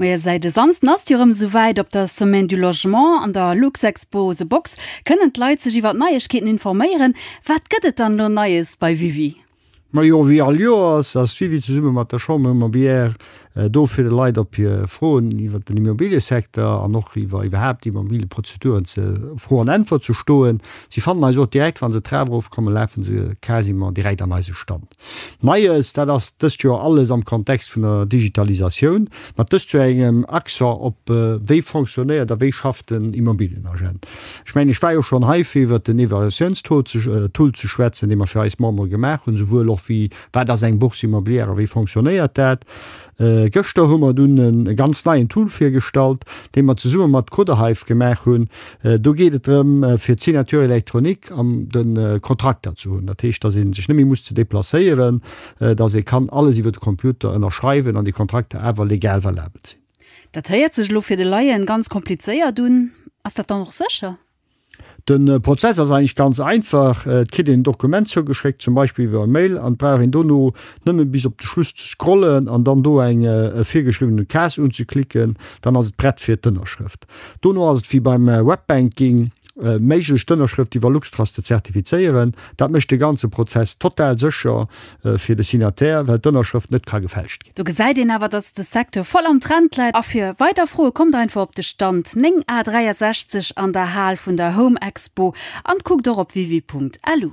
Majo säit e Samsden ass jo rem sou wäit, op der Semaine du Logement an der Luxexpo The Box kënnen d'Leit sech iwwert Neiegkeeten informéieren. Wat gëtt et dann elo Neies bei Wiwi? Majo wéi all Joer ass ass d'Wiwi zesumme mat der Chambre Immobilière do fir de Leit op hier Froen iwwert den Immobiliësecteur an och iwwer iwwerhaapt Immobiliëprozeduren ze Fro an Äntwert ze stoen. Si fannen eis och direkt, wann se d'Trap erof kommen lafen se quasiment direkt an eise Stand. Neies, dat ass dëst Joer alles am Kontext vun der Digitalisatioun, mat dëst Joer engem Accent op wéi fonctionnéiert a wéi schafft den Immobilienagent. Ech mengen, ech war jo schonn hei fir iwwert den Evaluatiounstool ze schwätzen, dee mer fir eis Membere gemaach hunn, souwuel och wéi wat ass eng Bourse immobilière a wéi fonctionnéiert dat. Gëschter hu mer dunn e ganz neien Tool virgestallt, dee mer zesumme mat Coderhive gemaach hunn. Do geet et drëm, fir d'Signature électronique an de Kontrakter ze hunn. Dat heescht, datt ee sech net méi muss ze deplacéieren, datt ee kann alles iwwer de Computer ënnerschreiwen an déi Kontrakter awer legal valabel sinn. Dat héiert sech elo fir de Laien ganz komplizéiert un. Ass dat dann och sécher? Den Prozess ass eigentlech ganz einfach, et kritt een en Dokument zougeschéckt, zum Beispill iwwer e Mail, an et brauch een dono nëmmen bis op de Schluss ze scrollen an dann do eng virgeschriwwenen Case unzeklicken, dann ass et prett fir d'Ënnerschrëft. Dono ass et wéi beim Webbanking méiglech d'Ënnerschrëft iwwer LuxTrust ze zertifizéieren. Dat mécht de ganze Prozess total sécher fir de Signataire, well d'Ënnerschrëft net ka gefälscht ginn. Do gesäit een awer, datt de Secteur voll am Trend läit. A fir weider Froe kommt einfach op de Stand 9 A 63 an der Hal vun der Home Expo an kuckt och op wiwi.lu.